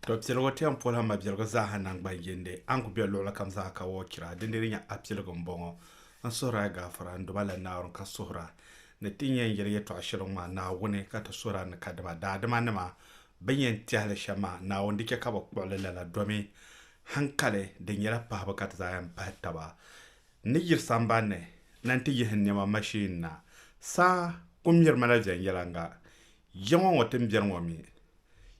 To piligu ti yɛn polila mabiligu zaaha nangban yindi a ni ku be luɣili kam zaa ka wɔɔ chira dindin di nyɛ a piligu m-bɔŋɔ. N suhiri a gaafara n-duma la Naawuni ka suhir a ni ti yɛn yɛli yɛtɔɣ shɛli ŋɔ maa Naawuni ka ti suhir a ni kadama daadimanima bɛn yɛn tɛhi li shɛm maa Naawuni di chɛ ka bɛ kpuɣi li lala domi haŋkali di nyɛla pahibu ka ti zaa yɛn pahi taba n ni yiri samban ni na nti yihi n nɛma mashin na. Saa ku miri ma la viɛnyɛliŋga Ya ŋɔ ŋɔ tin biɛri ŋɔ mi?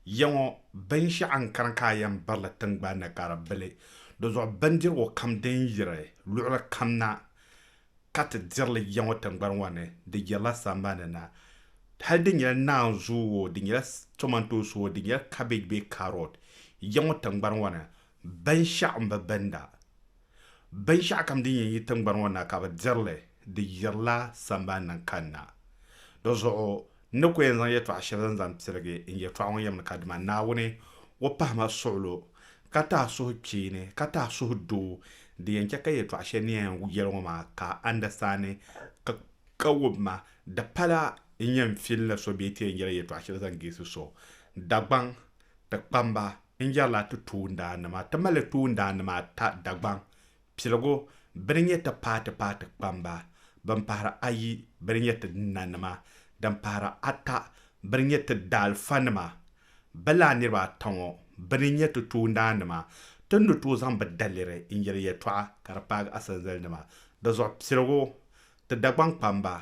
Ya ŋɔ binshɛɣu n-kani ka a yɛn birili tiŋgbani ni ka di bili, di zuɣu bindirigu kam din yiri luɣili kam na ka ti diri li ya ŋɔ tiŋgbani ŋɔ ni, di yirila sambani na. Hal di nyɛla naanzuu oo, di nyɛla tomantosi oo, di nyɛla cabbage bee carrot, ya ŋɔ tiŋgbani ŋɔ ni binshɛɣu m-bi binda. Binshɛɣukam din yɛn yi tiŋgbani ŋɔ na ka bɛ diri li di yirila sambani ni kanna. Di zuɣu n ni ku yɛn zaŋ yɛtɔɣ shɛli zaŋ zaŋ pirigi n yɛtɔɣa ŋɔ yɛm ni ka dima Naawuni o pahi ma suɣulo ka ti a suhu kpeeni ka ti a suhu doo di yɛn chɛ ka yɛtɔɣ shɛli ni yɛn yɛli ŋɔ maa ka a andasandi ka wum ma. Di pala n yɛn fil ni so bee ti yɛn yɛli yɛtɔɣ shɛli zaŋ geesi so, Dagbaŋ ti kpamba n-yɛrila ti toondaannima, ti mali toondaannima ata Dagbaŋ, piligu bɛ ni nyɛ ti paati paati kpamba ban pahiri ayi bɛ ni nyɛ ti nanima, din pahiri ata bɛ ni nyɛ ti daalifanima. Bɛ lala niriba ata ŋɔ bɛ ni nyɛ ti toondaannima, ti ni tooi zaŋ bɛ daliri n-yɛri yɛtɔɣa ka di paagi asanzalinima. Di zuɣu piligu, ti Dagbaŋ kpamba,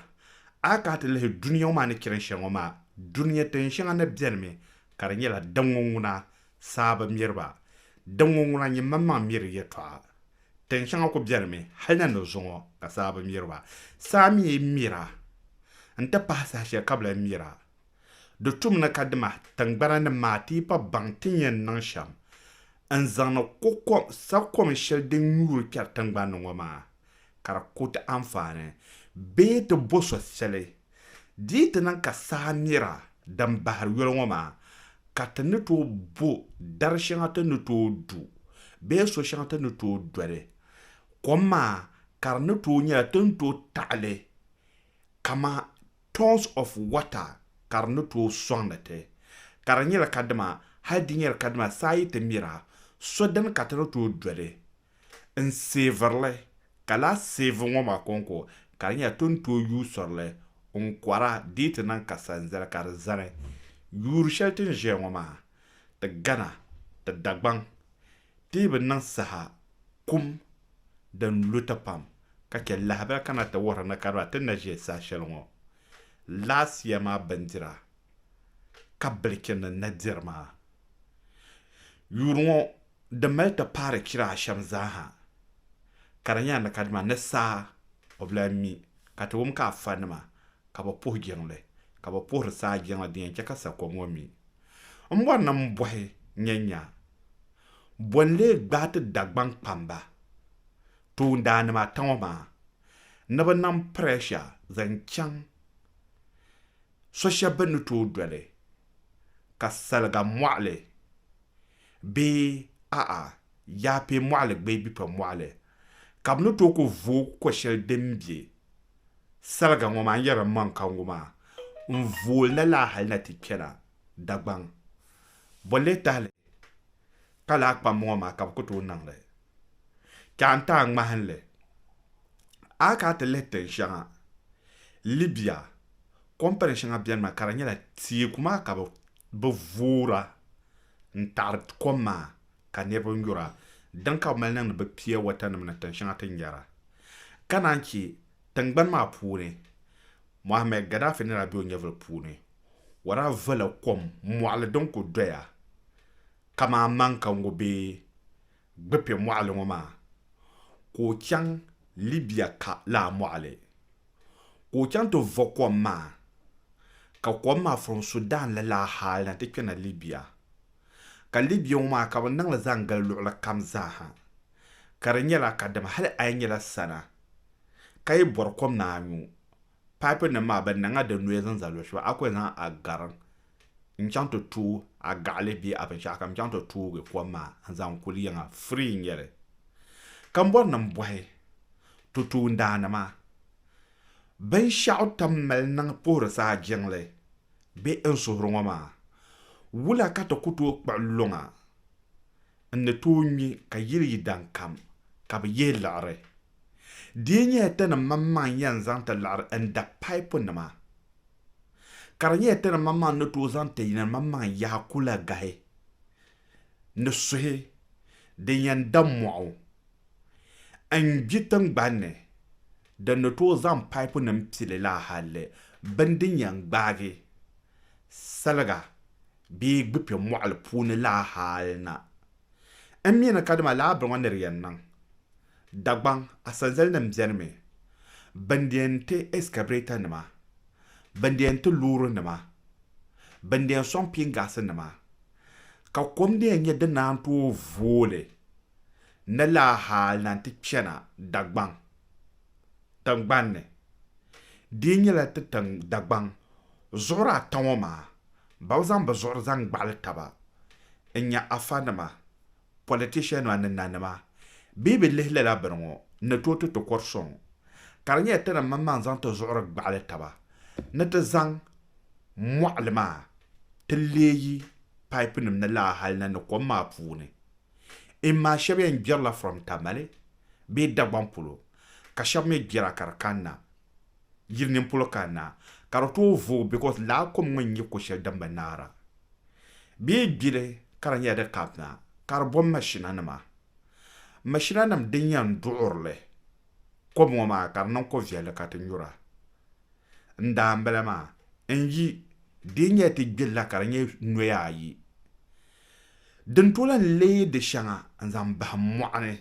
a yi kana ti lihi dunia ŋɔ maa ni chani shɛli ŋɔ maa, dunia tin shɛŋa ni benimi ka di nyɛla diŋŋɔ ŋuna saa bi miri ba, diŋŋɔ ŋuna nyin manmaŋ miri yɛtɔɣa. Tin shɛŋa ku beni mi hal na ni zuŋɔ ka saa bi miri ba. Saa mi mir a n-ti pahi saha shɛli ka bi lahi mir a. Di tum ni ka dima tiŋgbana ni maa ti yi pa baŋ ti ni yɛn niŋ shɛm n-zaŋdi ko'kom, sakom shɛli din nyuuri kpɛri tiŋgbani ni ŋɔ maa, ka di ku ti anfaani, bee ti bo so shɛli. Di yi ti niŋ ka saha nira din bahiri yoli ŋɔ maa ka ti ni tooi bo dari shɛŋa ti ni tooi du bee so shɛŋa ti ni tooi doli kom maa ka di ni tooi nyɛla ti ni tooi taɣili kaman tons of water ka di ni tooi sɔŋdi ti ka di nyɛli kadama hali di nyɛli kadama saa yi ti mira so dini ka ti ni tooi doli n seeviri li, ka lahi seevi ŋɔ maa kɔŋko ka di nyɛla ti ni tooi yuui sɔri li n kɔra dii ti niŋ ka sanzali ka di zani. Yuuri shɛli ti ni ʒeya ŋɔ maa, ti gana, ti Dagbaŋ dii bi niŋ saha kum din lu ti pam ka chɛ lahabali ka na ti wuhiri ni ka di maa ti ni na ʒe saha shɛli ŋɔ laasiya maa bindira ka bilichini na diri maa. Yuuri ŋɔ Di mali ti paari chira ashɛm zaaha, ka di nyɛla ni kadama ni saa o bi lahi mi, ka ti wum ka afanima ka bɛ puhi jiŋli, ka bɛ puhiri saa jiŋli din yɛn chɛ ka sakom ŋɔ mi. M bɔri ni m bɔhi nyanya, bɔ n-lee gbaai ti Dagbaŋ kpamba toondaannima ata ŋɔ maa ni bɛ niŋ prɛsha zaŋ chaŋ so shɛb bɛ ni tooi doli ka saliga mɔɣili bee a'a, Yaapee Mɔɣili gbee Bipa Mɔɣili, ka bɛ ni tooi ku vooi ko shɛli din be saliga ŋɔ maa n-yɛri Maŋkangu maa n-vooi na laa hali na ti kpɛna Dagbaŋ. Bɔ n-lee tahili ka laa kpamba ŋɔ maa ka bɛ ku tooi niŋ li? Ti a n-ti a ŋmahinli, a ka a ti lihi tin shɛŋa, Libya, kɔmpani shɛŋa benimi ka di nyɛla teeku maa ka bɛ voora n-taɣiri kom maa ka niriba nyura, dini ka bɛ mali niŋdi bɛ pia watanima ni tin shɛŋa ti ni nyara. Ka naan chɛ tiŋgbani maa puuni, Mohammed Gaddafi ni daa be o nyɛvili puuni, o daa vola kom mɔɣili din ku doya kaman amanka ŋɔ bee gbi kpe mɔɣili ŋɔ maa ka o chaŋ Libia ka laa mɔɣili ka o chaŋ ti vo kom maa ka kom maa from Sudan la laa hali na ti kpena Libia ka Libia ŋɔ maa ka bɛ niŋli zaŋ gili luɣili kam zaaha ka di nyɛla kadama hali a yi nyɛla sana ka yi bɔri kom ni a nyu Pipe nim maa bɛ niŋla di noise n-zali luɣ'shɛba a ku yɛn zaŋ a gariŋ n-chaŋ ti tooi a gaɣili bee a binshɛɣu kam n-chaŋ ti toogi kom maa n-zaŋ kuli yiŋa free n-nyɛ li ka m bɔri ni m bɔhi ti toondaanima binshɛɣu tam mali niŋ puhiri saa jiŋli bee n suhiri ŋɔ maa wula ka ti ku tooi kpuɣi luŋa n ni tooi ŋme ka yili yi daŋ kam, ka bi yihi liɣiri. Di yi nyɛla ti ni maŋmaŋ yɛn zaŋ ti liɣiri n da paipunima, ka di nyɛla ti ni maŋmaŋ ni tooi zaŋ ti ni maŋmaŋ yahi kulagahi ni suhi din yɛn da mɔɣu n gbi tiŋgbani ni, din ni tooi zaŋ paipunim pili la hali bini din yɛn gbaagi saliga Bee gbi kpe mɔɣili puuni laa hali na. N mi ni kadama laa biri ŋɔ ni di yɛn niŋ. Dagbaŋ asanzali nim beni mi, bɛn di yɛn ti excavator nima, bɛn di yɛn ti loori nima, bɛn di yɛn sɔŋ pingaasi nima, ka kom di yɛn nyɛ din naan tooi vooli ni laa hali na n ti kpɛna Dagbaŋ tiŋgbani ni, di yi nyɛla ti tiŋ Dagbaŋ zuɣuri ata ŋɔ maa, ba bi zaŋ bi zuɣuri zaŋ gbaɣili taba n-nya Afa nima, politician nima ni nanima bee bi lihi lala bini ŋɔ ni tooi ti ti kɔri sɔŋ, ka di nyɛla ti ni maŋmaŋ zaŋ ti zuɣuri gbaɣili taba ni ti zaŋ mɔɣili maa ti leei pipe nim ni laa hali na ni kom maa puuni. N maa shɛb yɛn gbirila from Tamale bee Dagbaŋ polo ka shɛb mi gbira ka di kanna yili nini polo kanna ka di tooi vooi because lala kom ŋɔ n-nyɛ ko shɛli din bi naara bee gbili ka di nyɛla di kapina ka di bom mashina nima mashina nim din yɛn duɣirili kom ŋɔ maa ka di niŋ ko viɛlli ka ti nyura n daambila maa n yi di yi nyɛla ti gbirila ka di nyɛ noya ayi Din to lan leei di shɛŋa n-zaŋ bahim mɔɣuni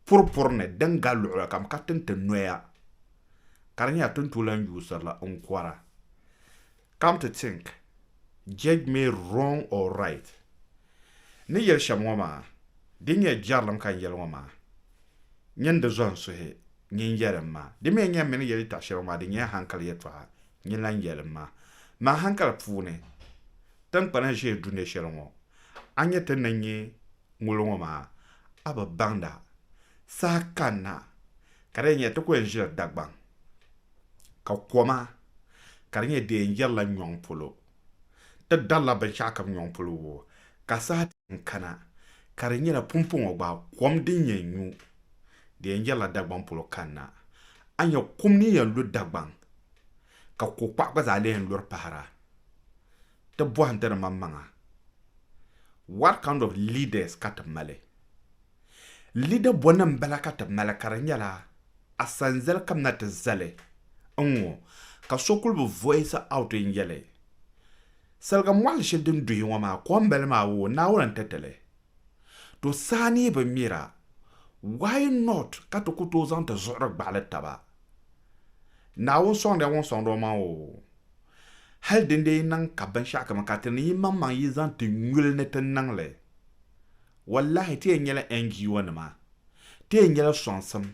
puripuri ni din gali luɣili kam ka tin ti noya, ka di nyɛla tin to lan yuusirila n-kɔra. Come to think, judge me wrong or right, ni yɛli shɛm ŋɔ maa, din nyɛ jɛrilim ka n yɛli ŋɔ maa, nyin di zɔn suhi, nyin yɛli m ma, di mi n-nyɛ m mi ni yɛli yɛtɔɣ shɛli ŋɔ maa, di nyɛla hankali yɛtɔɣa. nyin lan yɛlim maa. Maa hankali puuni, tiŋkpana ʒee dunia shɛli ŋɔ, a nya ti ni nya ŋolo ŋɔ maa, a bi baŋda. Saha kanna ka di yɛn nya ti ku yɛn ʒila Dagbaŋ, ka koma ka di nyɛ di yɛn yɛrila nyɔŋ polo. Ti darila binshɛɣu kam nyɔŋ polo wuo, ka saha ti yɛn kana ka di nyɛla pumpɔŋɔ gba kom din yɛn nyu di yɛn yɛrila Dagbaŋ polo kanna. A nya kum ni yɛn lu Dagbaŋ, ka ko kpaɣu gba zaa lee yɛn luri pahira. Ti bɔhindi di maŋmaŋa, what kind of leaders ka ti mali? Lida bɔni m-bala ka ti mali ka di nyɛla a sanzali ka m na ti zali n ŋɔ ka so kuli bi voice out n-yɛli saliga mɔɣili shɛli din duhi ŋɔ maa kom bali maa oo Naawuni n-ti ti li to saha ni yi bi mira why not ka ti ku tooi zaŋ ti zuɣuri gbaɣili taba Naawuni sɔŋdiya ŋun sɔŋdi o maŋ oo hali dindee yi niŋ ka binshɛɣukam ka ti ni yimaŋmaŋ yi zaŋ ti nyuli ni ti niŋ li Wallahi ti yɛn nyɛla NGO nima, ti yɛn nyɛla sɔŋsim,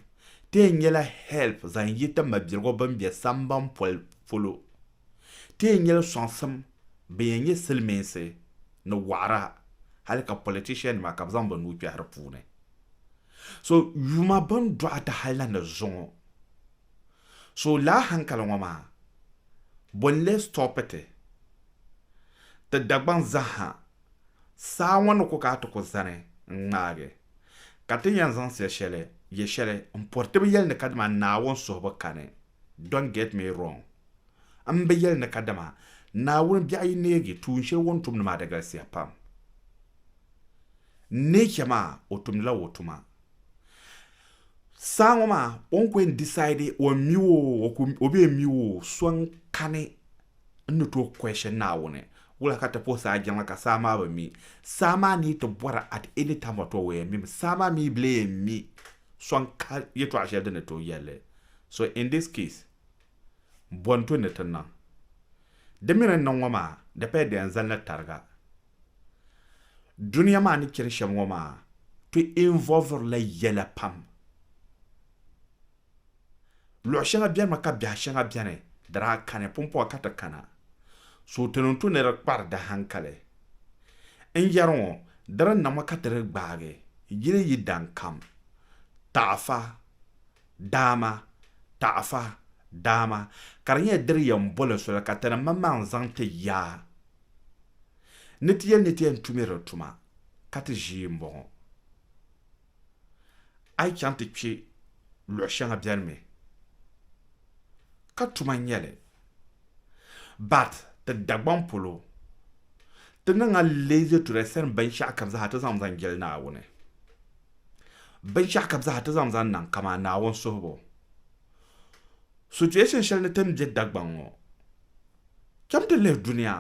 ti yɛn nyɛla help zaŋ yi ti mabiligu bini bɛ samban poli polo, ti yɛn nyɛla sɔŋsim bin yɛn nyɛ silimiinsi ni waɣira hali ka politician nima ka bi zaŋ bi nuu kpɛhi di puuni. So yuma bin dɔɣi ti hali na ni zuŋɔ. So laa hankali ŋɔ maa bɔ n-lee stop ti? Ti Dagbaŋ zaha Saa ŋɔ ni ku ka a ti ku zani n-ŋmaagi, ka ti ni yɛn zaŋ sia shɛli yɛ shɛli m-pɔri ti bi yɛli ni kadama Naawuni suhibu kani, don't get me wrong, m bi yɛli ni kadama Naawuni biɛɣu yi neegi tuun shɛli o ni tumdi maa di galisiya pam, nature maa o tumdila o tuma. Saa ŋɔ maa o ni ku yɛn decide o yɛn mi o o bi yɛn mi o so n kani n ni tooi question Naawuni wula ka ti puhi saa jiŋli ka saa maa bi mi saa maa ni yi ti bɔra at any time at all o yɛn mimi saa maa mi bi lee yɛn mi so n ka yɛltɔɣa shɛli din ni tooi yɛli li so in this case bɔnto ni ti niŋ di mi ni niŋ ŋɔ maa di paya di yɛn zali ni tariga. Dunia maa ni chani shɛm ŋɔ maa ti involviri la yɛla pam. Luɣ shɛŋa bɛnimi ka biɛh shɛŋa bɛni di daa kani pumpɔŋ ka ti kana. So ti niŋ tu ni di kpari di hankali. N yɛri ŋɔ di di niŋmi ka ti di gbaagi yili yi daŋ kam. Taɣifa, Daama, Taɣifa, Daama, ka di nyɛla di di yɛn boli soli ka ti ni maŋmaŋ zaŋ ti ya. Ni ti yɛli ni ti yɛn tumiri di tuma ka ti ʒii m-bɔŋɔ. A yi chaŋ ti kpe luɣ shɛŋa beni mi ka tuma n-nyɛ li. But ti Dagbaŋ polo ti niŋ a leazy to the extent binshɛɣu kam zaa ti zaŋmi zaŋ jɛli Naawuni. Binshɛɣu kam zaa ti zaŋmi zaŋ niŋ kaman Naawuni suhibu. Situation shɛli ni ti ni be Dagbaŋ ŋɔ. Cham ti lihi dunia.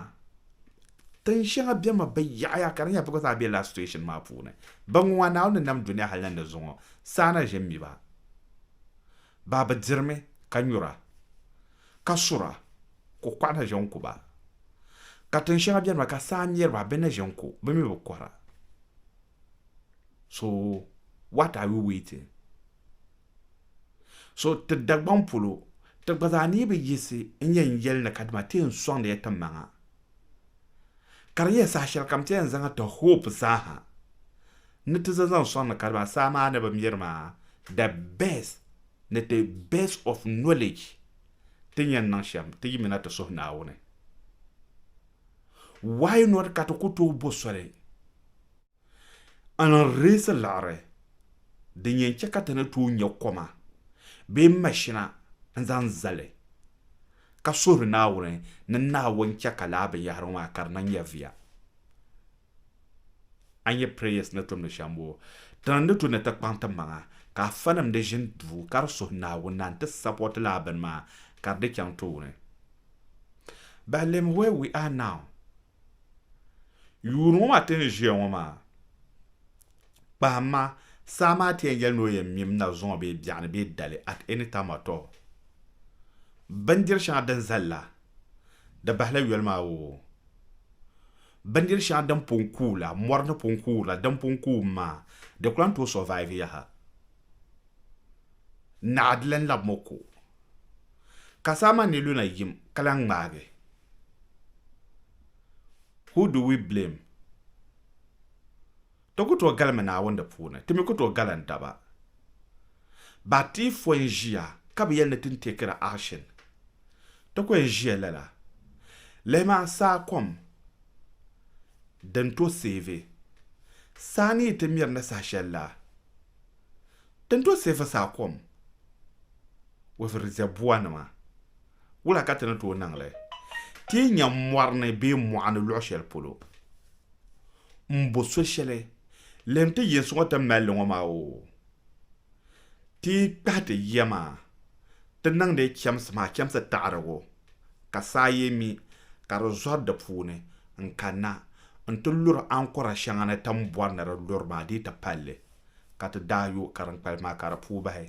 Tin shɛŋa bemi bi yaɣiya ka di nyɛla bɛ gba zaa be lala situation maa puuni. Baŋŋuŋɔ Naawuni ni nam dunia hal ni di zuŋɔ, saa na ʒe m-mi ba. Baa bi dirimi ka nyura, ka sura, kuɣukɔɣu na ʒe n-ku ba. Ka tin shɛŋa beni maa ka saa mɛri ba bɛ ni ʒe n-ku, bɛ mi bi kɔra. So what are we waiting? So ti Dagbaŋ polo, ti gba zaa ni bi yiɣisi n-nyɛ n yɛli ni kadama ti yɛn sɔŋdi ya ti maŋa. Ka di nyɛ saha shɛlikam ti yɛn zaŋ ti hope zaaha ni ti za zaŋ sɔŋ ni kadama saa maa ni bi miri maa the best ni the best of knowledge ti ni yɛn niŋ shɛm ti yimina ti suhi Naawuni. Why not ka ti ku tooi bo soli? N reesi liɣiri din yɛn chɛ ka ti ni tooi nya koma bee mashina n-zaŋ zali ka suhiri Naawuni ni Naawuni chɛ ka lala binyɛhirigu maa ka di niŋ nyɛviya. A nya Prayers ni tumdi shɛm bɔ? Ti ni tooi ni ti kpaŋ ti maŋa ka afanim di ʒin duu ka di suhi Naawuni na nti sapɔti lala bini maa ka di chaŋ tooni. But lem where we are now Yuuni ŋɔ maa ti ni ʒiya ŋɔ maa, kpahim ma, saa maa ti yɛn yɛli ni o yɛn mim na zuŋɔ bee biɛɣuni bee dali at any time at all. Bindiri shɛŋa din zali la, di bahila yoli maa oo. Bindiri shɛŋa din pun kuui la, mɔri ni pun kuui la, din pun kuui mi maa, di ku lan tooi survive yaha. Naa di lan labim o ko. Ka saa maa ni lu na yim ka lan ŋmaagi Who do we blame? Ti ku tooi galimi Naawuni di puuni, ti mi ku tooi galim daba. Ba ti yi fo n-ʒiya ka bi yɛli ni tin teekiri action, ti ku yɛn ʒiya lala. Lihimi a saa kom din tooi save. Saa ni yi ti miri ni saha shɛli la, tin tooi save saa kom with reservoir nima Wula ka ti ni tooi niŋ li? Ti yi nya mɔri ni bee mɔɣu ni luɣ shɛli polo m-bo so shɛli, Lihim ti yinsi ŋɔ ti mali li ŋɔ maa oo, ti yi kpahi ti yiya maa, ti niŋdi chɛmsi maa chɛmsi taɣirigu, ka saa yi mi, ka di zɔri di puuni n-kanna nti luri ankɔra shɛŋa ni ti ni bɔri ni di luri maa dii ti pali li, ka ti daa yo kariŋkpali maa ka di puui bahi.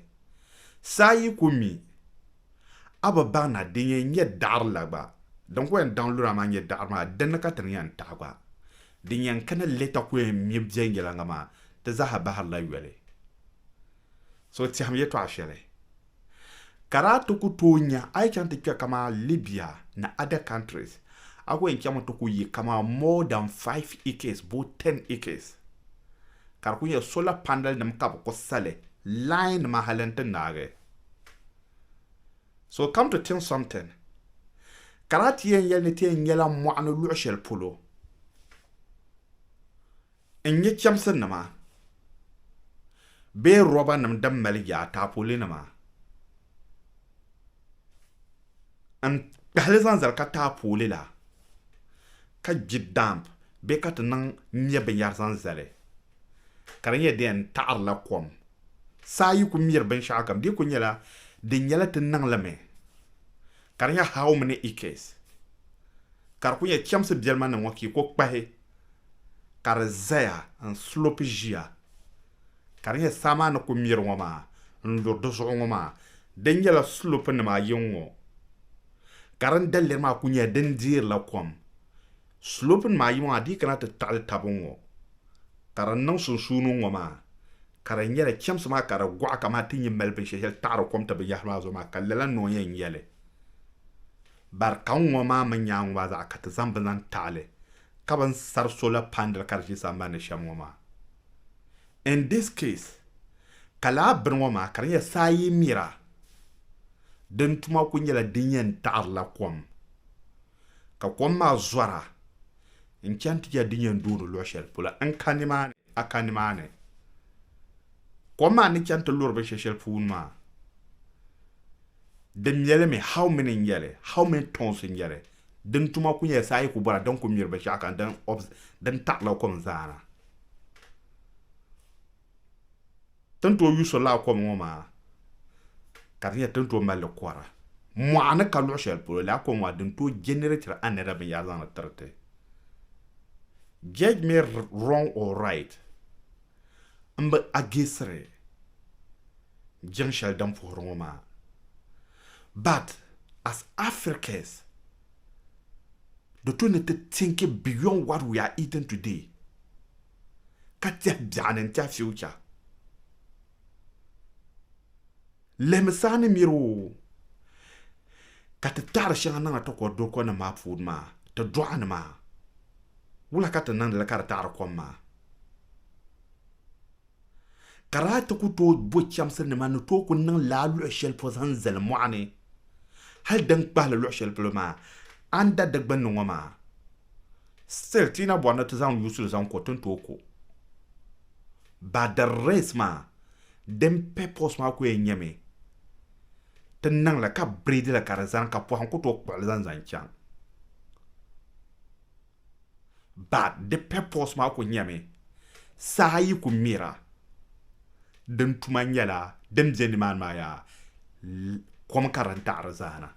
Saa yi ku mi, A bi baŋ na din yɛn nyɛ daɣiri la gba? Din ku yɛn daŋ lura maa nyɛ daɣiri maa, dinni ka ti ni yɛn taɣi gba? Din yɛn kani li ta ku yɛn mi viɛnyɛliŋga maa, di zaaha bahirila yoli. So tɛhim yɛtɔɣ shɛli ka daa ti ku tooi nya a yi chaŋ ti kpe kaman Libya ni other countries, a ku yɛn chaŋmi ti ku yi kaman more than five acres boo ten acres, ka di ku nyɛ solar panelnim ka bɛ ku sa li, line nima hali nti naagi. So come to think something, ka lahi ti yɛn yɛli ni ti yɛn nyɛla mɔɣuni luɣ shɛli polo n-nyɛ chɛmsinima bee rɔbanim din mali yaa, taapolinima n-kpahili zaŋ zali ka taapooli la ka gbi damp bee ka ti niŋ nyɛ binyɛra zaŋ zali. ka di nyɛ di yɛn taɣirila kom. Saa yi ku miri binshɛɣu kam, di ku nyɛla di nyɛla ti niŋlimi, ka di nyɛ how many acres, ka di ku nyɛ chɛmsi biɛlima ni ŋɔ ka yi ku kpahi ka di zaya n-slope ʒiya, ka di nyɛ saa maa ni ku miri ŋɔ maa n-lu di zuɣu ŋɔ maa, di nyɛla slope nima ayi n-ŋɔ, ka din daliri maa ku nyɛla din deerila kom. Slope nima ayi maa dii kana ti taɣili taba n ŋɔ ka di niŋ sunsuuni n ŋɔ maa ka di nyɛla chemsi maa ka di gɔɣi kamani ti nyi mali binsheli sheli taɣiri kom ti binyahiri maa zuɣu maa ka lala noo yɛn nyɛli bari ka n ŋɔ maa mi nyaaŋɔ maa zaɣa ka ti zaŋ bini zaŋ taɣili ka bini sari solar pandal ka di ʒi sambani ni shem ŋɔ maa. In this case ka lala bini ŋɔ maa ka di nyɛla saa yi mira din tuma kuli nyɛla din yɛn taɣirila kom. Ka kom maa zɔra n-chani ti yɛli di ni yɛn dooni luɣ shɛli polo n ka nimaani, a ka nimaani. Kom maa ni chani ti luri binshɛ shɛli puuni maa, di nyɛlimi, how many n-nyɛ li, how many tons n-nyɛ li, din tuma ku nyɛla saa yi ku bɔra din ku miri binshɛɣu ka din taɣila kom zaana. ti ni tooi yuui so lala kom ŋɔ maa ka di nyɛ ti ni tooi mali li kɔra mɔɣuni ka luɣ shɛli polo lala kom maa din tooi jɛnɛrɛtiri anɛda binyɛra zaŋdi tiri ti. Judge me wrong or right, m bi ageesiri jiŋ shɛli din puhiri ŋɔ maa but as Africans di tooi ni ti tinki beyond what we are eating today. ka tɛhi biɛɣu ni n-tɛhi future. Lihimi saa ni miri o ka ti taɣiri shɛŋa niŋdi takɔr dɔkɔnim maa puuni maa, ti dɔɣi ni maa. Wula ka ti niŋdi li ka di taɣiri kom maa? Ka daa ti ku tooi bo chɛmsi nima ni tooi ku niŋ laa luɣi shɛli pɔ zaŋ zali mɔɣini hali din kpahili luɣi shɛli polo maa, anda di gbunni ŋɔ maa. Still ti yi na bɔri ni ti zaŋ yuusul zaŋ ko tin tooi ko ba the race maa din purpose maa ku yɛn nyɛmi ti niŋ li ka breed li ka di zani ka pɔhim ku tooi kpuɣi li zaŋ zaŋ chaŋ but di purpose maa ku nyɛmi saha yi ku mira din tuma nyɛla din bɛ ni maani maa yaa kom ka din taɣiri zaa na.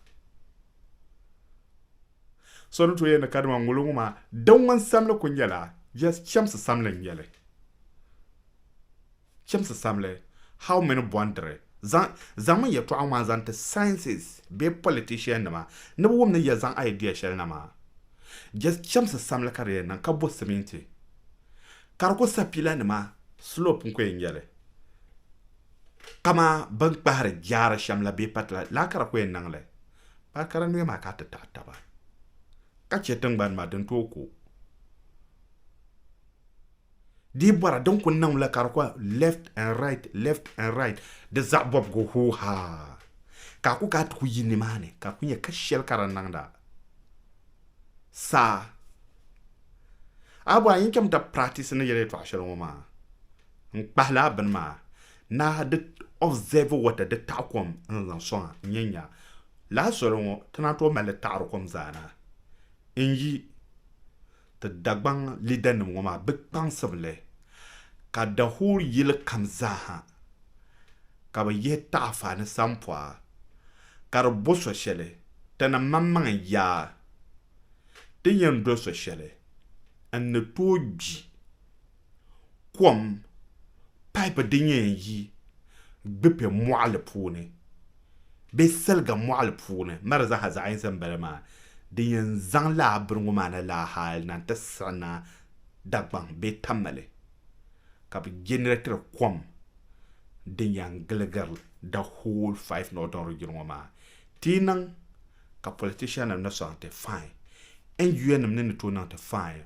So ni tooi yɛli ni kadama ŋolo ŋɔ maa din ŋun samli ku nyɛla just chɛmsi samli n nyɛli. Chɛmsi samli how many bɔndiri zaŋ zaŋmi yɛltɔɣa ŋɔ maa zaŋ ti sciences bee politician nima ni bɛ wum ni ya zaŋ idea shɛli na maa just chɛmsi samli ka di yɛn niŋ ka bo siminti ka di ku sa pila nima slope n ku yɛn nyɛli kama bini kpahiri jaara shɛm la bee patila lala ka di ku yɛn niŋli Baa kara noya maa ka a ti taɣi taba ka chɛ tiŋgbani maa din tooi ku. Di yi bɔra din ku niŋm la ka di kɔhi left and right, left and right, di zaɣ bɔbigu hoo haa ka a ku ka a ti ku yi nimaani ka a ku nya ka shɛli ka di niŋda saa. A bɔra n yi chɛm ti practice ni yɛli yɛtɔɣa shɛli ŋɔ maa n kpahila a bini maa Naa di observe water di taɣi kom n zaŋ soŋa n yɛn nya lala soli ŋɔ ti naan tooi mali taɣiri kom zaa na n yi ti Dagbaŋ leader nim ŋɔ maa bi kpaŋsibu li ka the whole yili kam zaa ha ka bi yihi taɣifa ni sampɔa ka di bo so shɛli ti ni maŋ maŋ n yaa ti yɛn do so shɛli n ni tooi gbi kom paip din yɛn yi Gbipɛ mɔɣili puuni bee Siliga mɔɣili puuni mara zaaha zaɣ yinsi m-bala maa din yɛn zaŋ laa bini ŋɔ maa na laa hali na nti siɣi na Dagbaŋ bee Tamale ka bɛ jɛnɛreetiri kom din yɛn giligiri the whole five northern region ŋɔ maa. Ti yi niŋ ka politiciannim ni sɔŋ ti, fine. NUNnim ni ni tooi niŋ ti, fine.